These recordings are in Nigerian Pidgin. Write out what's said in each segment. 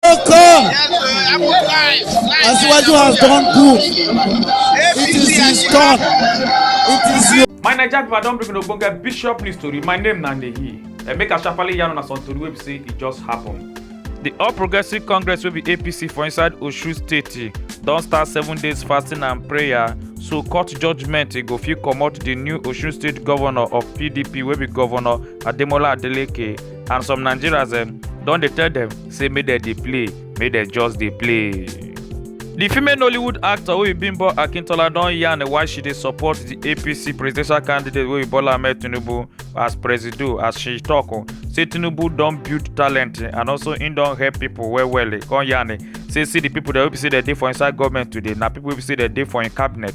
come. Asiwaju has done good. It is his turn. It is your. My Naija people, I don bring una ogbonge bishop news tori. My name na Ndeyi. Eh, make I sharply yarn una some tori wey be say e just happen. The All Progressive Congress wey be APC for inside Osun State don start seven days fasting and prayer so court judgement e go fit comot the new Osun State governor of PDP wey be governor Ademola Adeleke and some nigerians um, don dey tell dem say make dem dey play make dem just dey play. di female nollywood actor oyinbimbo akintola don yarn why she dey support di apc presidential candidate wey bola ahmed tinubu as presido as she tok oh, say tinubu don build talent and also im don help pipo well well come yarn say see di pipo wey be say dem dey for inside goment today na pipo wey be say dem dey for im cabinet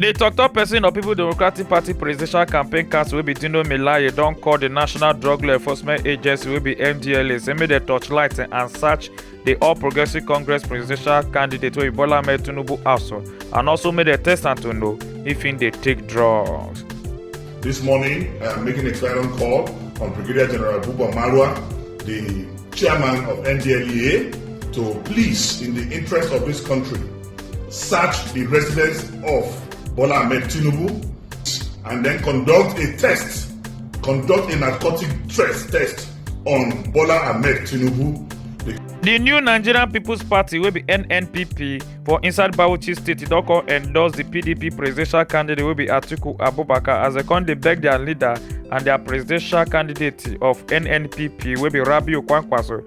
di tok-tok pesin of people democratic party presidential campaign council wey be dino melaye don call di national drug law enforcement agency wey be ndla say make dem torchlight and search di all progressives congress presidential candidate wey be bola ahmed tinubu house and also make dem test am to know if im dey take drugs. This morning, I am making a clarion call on Brigadier General Buba Marwa, the chairman of NDLEA, to please, in the interest of this country, search the residence of Bola Ahmed Tinubu and then conduct a test, conduct a narcotic test test on Bola Ahmed Tinubu. The new Nigerian People's Party will be NNPP for inside Bauchi State don come endorse the PDP presidential candidate will be Atiku Abubakar as they come dey beg their leader and their presidential candidate of NNPP will be Rabiu Kwankwaso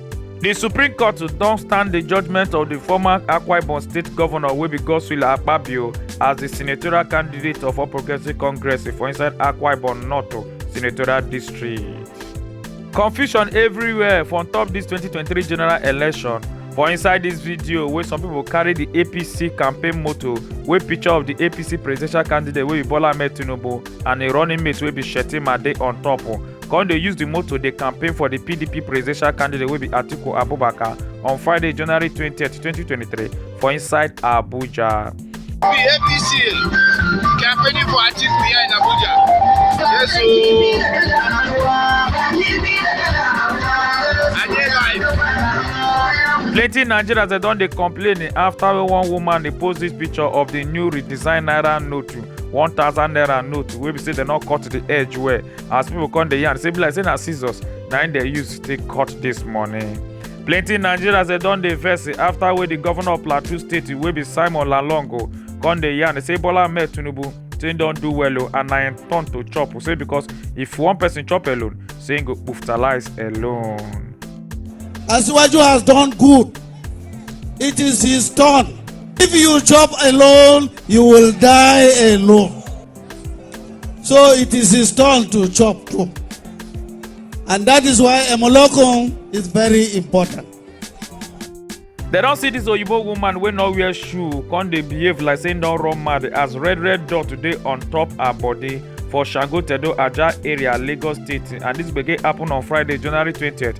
di supreme court don stand di judgment of di former akwa ibom state govnor wey be godswill akpabio as di senatorial candidate of all progressives congress for inside akwa ibom north senatorial district confusion everywhere for ontop dis 2023 general election for inside dis video wey some pipo carry di apc campaign motor wey picture of di apc presidential candidate wey be bola ahmed tinubu and im running mate wey be shettima dey on top o come dey use di motor dey campaign for di pdp presidential candidate wey be atiku abubakar on friday january 20 2023 for inside abuja. The APC campaigning for Atiku here in Abuja. Yes, so. And they live. plenty nigerians dem don dey complain after one woman dey post dis picture of di new redesigned naira note one thousand naira note wey be say dem no cut the edge well as people come dey yarn say e be like say na scissors na im dem use take cut this money. plenty nigerians dey don dey vex after wey the governor of plateau state wey be simon lalongo come dey yarn say bola ahmed tinubu say im don do well o and na im turn to chop o say because if one person chop alone say im go kpuftalize alone. Asiwaju has done good It is his turn. If you chop alone, you will die alone. So it is his turn to chop too. And that is why Emolokun is very important. They don't see this oyibo woman wey no wear shoe come dey behave like say no run mad as red red dot today on top her body for shango tedo aja area lagos state and this gbege happen on friday january twentieth.